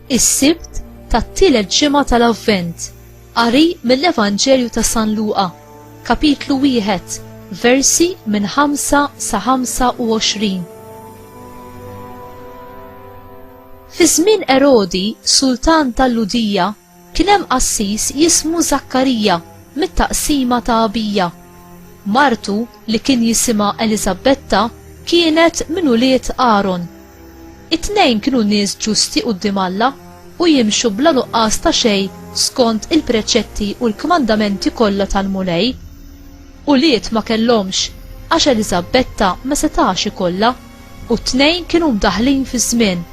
Is-Sibt tat-tielet ġimgħa tal-Avvent. Qari mill-Evanġelju ta' San Luqa, kapitlu wieħed, versi minn 5 sa 25. Fi żmien Erodi, sultan tal-Ludija, Kien hemm qassis jismu Żakkarija mit-taqsima ta' Abija. Martu, li kien jisimha Eliżabbetta, kienet minn ulied Aron. It-tnejn kienu nies ġusti quddiem Alla u jimxu bla nuqqas ta' xejn skont il-preċetti u l-kmandamenti kollha tal-Mulej. Ulied ma kellhomx għax Eliżabbetta ma setax ikollha. u t-tnejn kienu mdaħħlin fiż-żmien.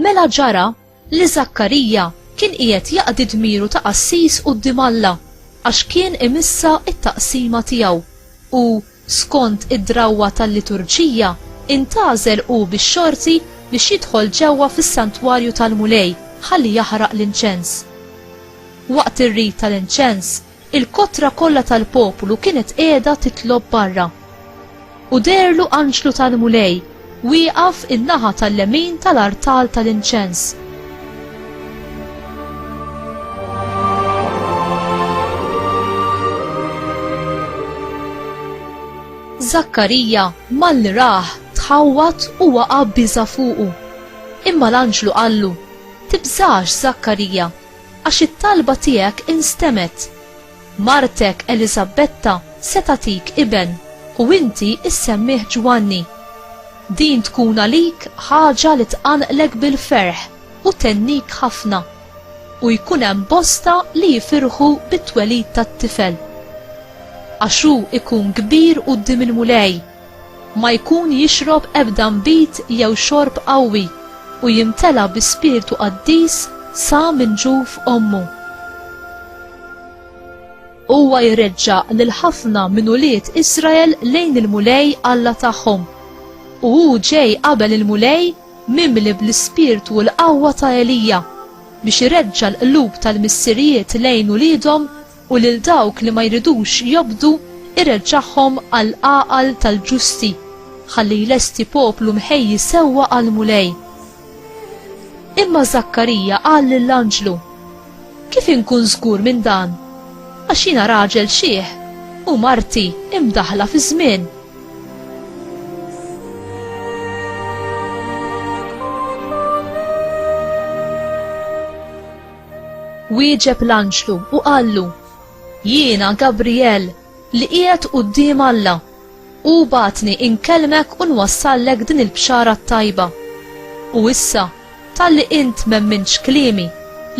Mela ġara li Zakkarija kien qiegħed jaqdi dmiru ta' qassis quddiem Alla għax kien imissa t-taqsima tiegħu u Skont id-drawwa tal-liturġija, intgħażel hu bix-xorti biex jidħol ġewwa fis-santwarju tal-Mulej ħalli jaħraq l-inċens. Waqt ir-rit tal-inċens, il-kotra kollha tal-poplu kienet qiegħda titlob barra. U deherlu anġlu tal-Mulej Wieqaf in-naħa tal-lemin tal-artal tal-inċens. Żakkarija, malli rah, tħawwad u waqa' biża' fuqu. Imma l-anġlu qallu, Tibżax, Żakkarija, għax it-talba tiegħek instemet'. Martek Eliżabbetta se tagħtik iben u inti issemmih Ġwanni. Din tkun għalik ħaġa li tqanqlek bil-ferħ u thennik ħafna. U jkun hemm bosta li jifirħu bit-twelid tat-tifel. Għax hu jkun kbir quddiem il-Mulej. ma jkun jixrob ebda nbid jew xorb qawwi, u jimtela bi spirtu qaddis sa minn ġuf ommu. Huwa jreġġa' lil ħafna minn ulied Israel lejn il-Mulej Alla tagħhom, u hu ġej qabel il-Mulej mimli bl-ispirtu u l-qawwa ta' Elija, biex ireġġa' l-qlub tal-missirijiet lejn uliedhom U lil dawk li ma jridux jobdu jreġġagħhom għall-għaqal tal-ġusti, ħalli jlesti poplu mħejji sewwa għall-Mulej. Imma Żakkarija qal lill-anġlu, Kif inkun żgur minn dan? Għax jiena raġel xiħ u marti imdaħla fi żmien. Wieġeb l-anġlu u qallu, Jiena Gabrijel, li qiegħed quddiem Alla. Hu bagħatni inkellmek u nwassallek din il-bxara t-tajba. U issa, talli int m'emmintx kliemi,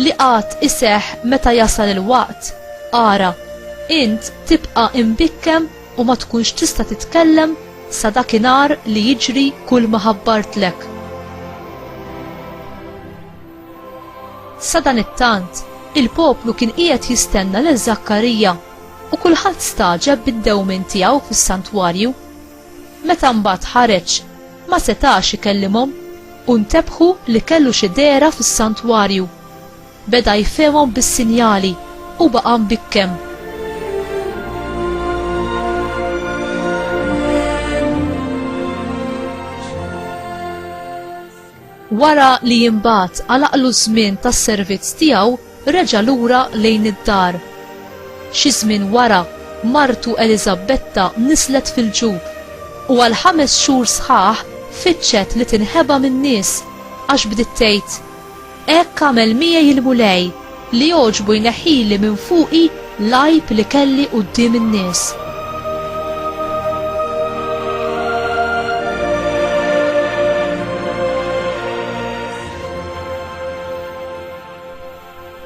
li għad iseħħ meta jasal il-waqt, ara, int tibqa' imbikkem u ma tkunx tista' titkellem sa dakinhar li jiġri kulma ħabbartlek. Sadanittant, il-poplu kien qiegħed jistenna lil Żakkarija, u kulħadd stagħġeb bid-dewmien tiegħu fis-santwarju. Meta mbagħad ħareġ, ma setax ikellimhom, u ntebħu li kellu xi dehra fis-santwarju. Beda jfehmhom bis-sinjali u baqa' mbikkem. Wara li imbagħad għalaqlu ż-żmien tas-servizz tiegħu, reġa' lura lejn id-dar. Xi żmien wara, martu Eliżabbetta niżlet fil-ġub, u għal ħames xhur sħaħ fittxet li tinħeba min-nies, għax bdiet tgħid, Hekk għamel miegħi l-Mulej, Li jogħġbu jneħħili minn fuqi l-għajb li kelli quddiem in-nies.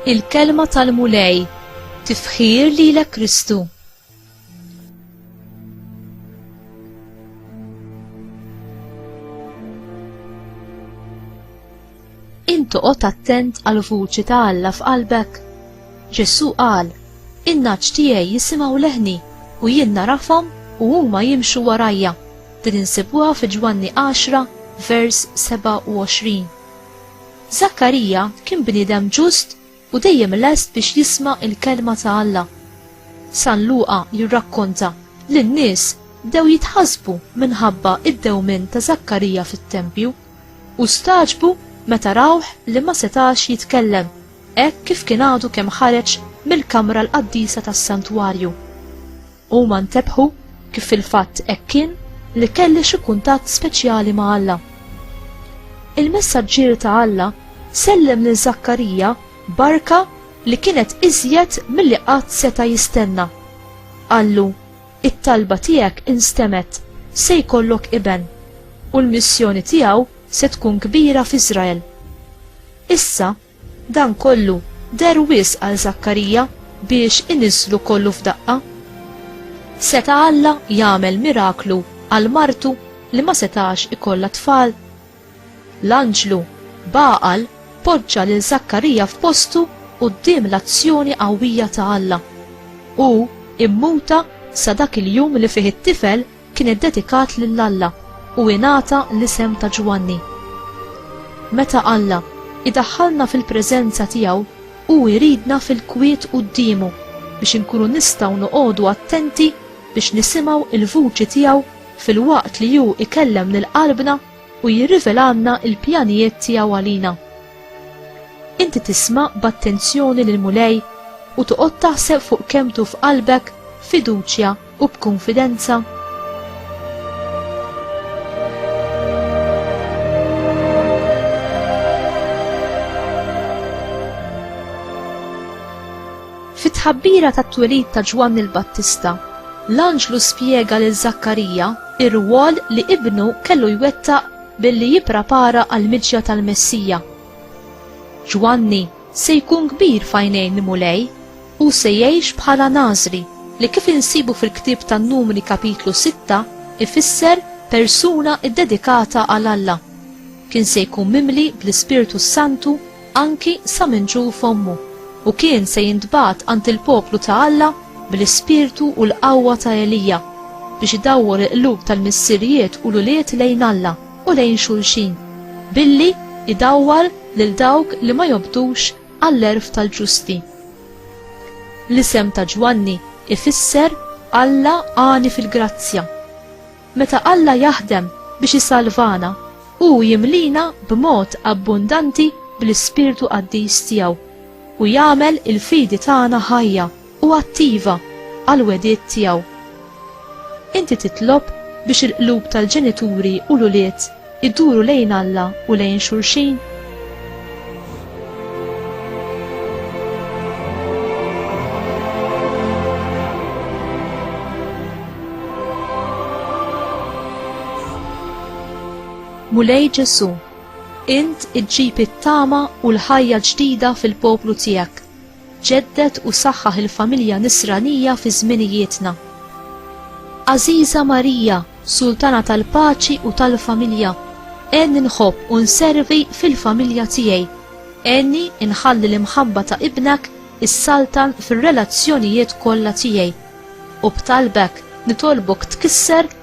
Il-Kelma tal-Mulej, Tifħir lilek Kristu. Intoqgħod attent għal vuċi ta' Alla f'qalbek. Ġesù qal, in-naċ tiegħi jisimgħu leħni u jien narafhom u huma jimxu warajja. Din insibuha fi Ġwanni 10 vers 27. Zakkarija kien bniedem ġust u dejjem lest biex jisma' il-kelma ta' Alla. San Luqa jirrakkonta li n-nies bdew jitħassbu minħabba id-dewmien ta' Żakkarija fit-tempju u stagħġbu meta rawh li ma setax jitkellem hekk kif kien għadu kemm ħareġ mill-kamra l-qaddisa tas-santwarju. Huma ntebħu kif fil-fatt hekk kien li kelli xi kuntatt speċjali ma' Alla. Il-messaġġier ta' Alla sellem lil Zakkarija barka li kienet iżjed milli qatt seta' jistenna. Qallu, it-talba tiegħek instemet, se jkollok iben, u l-missjoni tiegħu se tkun kbira f'Iżrael. Issa, Dan kollu der wis għal Zakkarija biex iniżlu kollu f'daqqa. Seta Alla jagħmel miraklu għal martu li ma setax ikollha tfal. L-anġlu baqal poġġa lil Zakkarija f'postu quddiem l-azzjoni qawwija ta' Alla. U immuta sa dak il-jum li fih it-tifel kien iddedikat lil Alla u ingħata l-isem ta' Ġwanni. Meta Alla idaħħalna fil-preżenza tiegħu, hu jridna fil-kwiet quddiemu biex inkunu nistgħu noqogħdu attenti biex nisimgħu l-vuċi tiegħu filwaqt li hu ikellem lil qalbna u jirrivelalna l-pjanijiet tiegħu għalina. Inti tisma' b'attenzjoni lill-Mulej u toqgħod taħseb fuq kemm tuf qalbek fiduċja u b'kunfidenza Fit-tħabbira tat-twelid ta' Ġwann il-Battista, l-anġlu spjega lil Żakkarija ir-rwol li ibnu kellu jwettaq billi jipprapara għall-miġja tal-Messija. Ġwanni se jkun kbir f'għajnejn l-Mulej Hu se jgħix bħala Nażri, li kif insibu fil-ktieb tan-Numri Kapitlu 6 ifisser persuna ddedikata għal Alla. Kien se jkun mimli bl-Ispirtu s-Santu anki sa minn ġuf ommu u kien se jintbagħat għand il-poplu ta' Alla bl-ispirtu u l-qawwa ta' Elija biex idawwor il-qlub tal-missirijiet u l-ulied lejn Alla u lejn xulxin billi idawwar lil dawk li ma jobdux Għall-għerf tal-ġusti. L-isem ta' Ġwanni ifisser Alla għani fil-grazzja. Meta Alla jaħdem biex isalvana, hu jimlina b'mod abbundanti bl-ispirtu qaddis tiegħu u jagħmel il-fidi tagħna ħajja. u attiva għall-wegħdiet tiegħu. Inti titlob biex il-qlub tal-ġenituri u l-ulied iduru lejn Alla u lejn xulxin? Mulej Ġesu, int iġġib it-tama u l-ħajja ġdida fil-poplu tiegħek Ġedded u saħħaħ il-familja Nisranija fi żminijietna. Għażiża Marija, Sultana tal-Paċi u tal-Familja, għenni nħobb u nservi fil-familja tiegħi. Għenni nħalli l-imħabba ta' Ibnek issaltan fir-relazzjonijiet kollha tiegħi. U b'talbek nitolbok tkisser